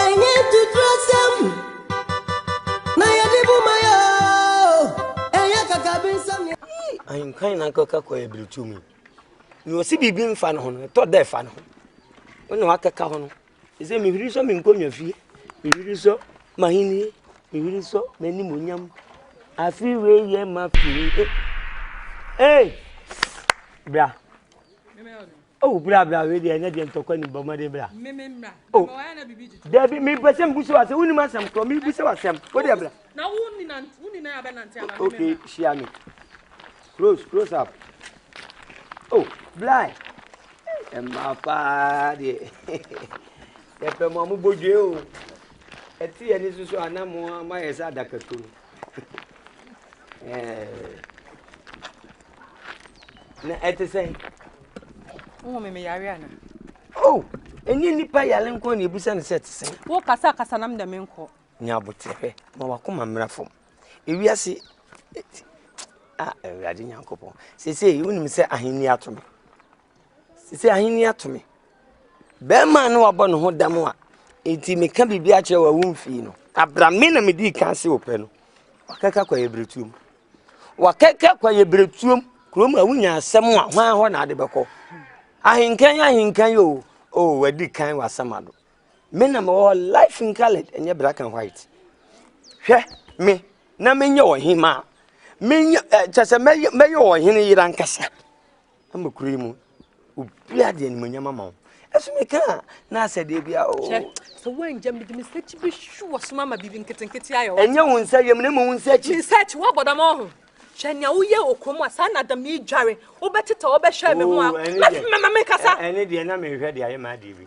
Ɛnyɛ tuturasɛm na yɛde bu ma yɛ oo, ɛnyɛ kakabensɛm na Ahenkan na akɔka kɔ yɛ bere tu mu. Nea ɔsi biribi mfa ne ho no, ɛtɔ dɛ fa ne ho. Wo na wakɛka ho no, Ese mihwiri sɔ me nkonnwa fie, mihwiri sɔ m'ahenni, mihwiri sɔ m'animuonyam. Afe wei yɛ m'afe o. Hey! Bra. Oh, bra bra wei deɛ ɛnyɛ deɛ ntɔkwa nim bɔ mmɔden bra. Oh, dabi mepɛ sɛ mbu sɛ wasɛm wonim asɛm korɔ mebu sɛ wasɛm wo deɛ bra. Na wo nina wo nina abɛnante aba. Okay, hyia me. Close close up oh blind mmaa paa deɛ yɛpɛ mo a mo bɔ dwe o ɛte yɛn ni soso a na mo ama yɛ sɛ adaka tu no ɛɛ na ɛte sɛn. wohu me meyare ana oh ɛnyɛ nnipa yare nko na ɛbusa ne sɛ ɛte sɛn wo kasa kasa nam dɛ menkɔ nyabote hwɛ ma wakoma mmra fam Ewiase ti ah Awurade Nyankopɔn. Sesei wonim sɛ ahenni ato me. Sesei ahenni ato me. Bɛrima no wabɔ ne ho dam a enti meka biribi akyerɛ wa womfii no. Abra me na medii kan se wopɛ no. Wakɛka kwa yɛ berɛtuom. Wakɛka kwa yɛ berɛtuom. Kurom a wonya asɛm a hwan hɔ na ade bɛkɔ. Ahenkan ahenkan o. O wadi kan w'asɛm ado. Me na mewɔ hɔ life in colored ɛnyɛ black and white hwɛ me na menyɛ ɔhemaa menyɛ ɛ kyɛ sɛ mɛyɛ mɛyɛ ɔhene yere ankasa ama kuro yi mu obi adi animonyam ama wo ɛso mi kan na asɛ deɛ bi a o. kyɛ sɛ wɔngyɛ mi de mi sɛ kyi bi hwi wɔ so ama biribi nketenkete ayɛ wɔ. ɛnyɛ wɔn nsa yɛ mu na emu wɔn nsa akyi. mi nsa akyi wɔ abɔdam ɔho hwɛ nea woyɛ okuro mu a saa na adam yi dware wobɛtete wɔbɛhwɛ mi ho a mɛfima ma mi kasa. ɛne deɛ na mi hwɛ deɛ ayɛ maa deɛ bi.